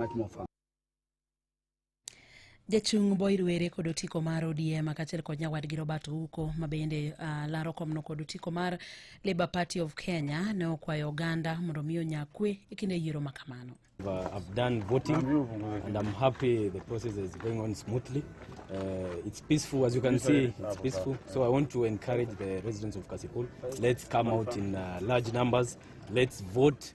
much more fun. jachung boyd were kod otiko mar odm kaachiel kod nyawadgi robert ouko ma bende uh, laro komno kod otiko mar labour party of kenya ne okwayo oganda mondo mi onya kwe e kinde yiero ma kamano Uh, I've done voting and I'm happy the process is going on smoothly. Uh, it's peaceful, as you can see, it's peaceful. So I want to encourage the residents of Kasipul. Let's come out in uh, large numbers. Let's vote.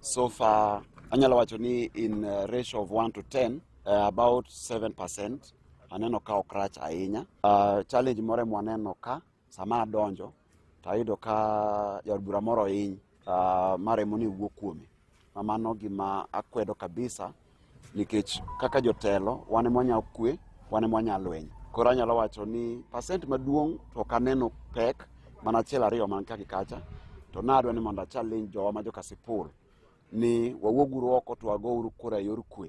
So far, anyalo wacho ni in uh, ratio of 1 to 10, uh, about 7% aneno ka ok rach ahinya. Uh, challenge moro mwaneno ka sama adonjo tayudo ka jaod bura moro hiny uh, maremo ni wuo kuome. Mamano gima akwedo kabisa. Nikech kaka jotelo, wan ema wanyalo kwe, wan ema wanyalo lweny. Koro anyalo wacho ni pasent maduong' to ok aneno pek mana achiel ariyo man ka gi kacha, to nadwa ni mondo achallenge jowa ma jokasipul ni wawuoguru oko to wagouru kura e yor kwe.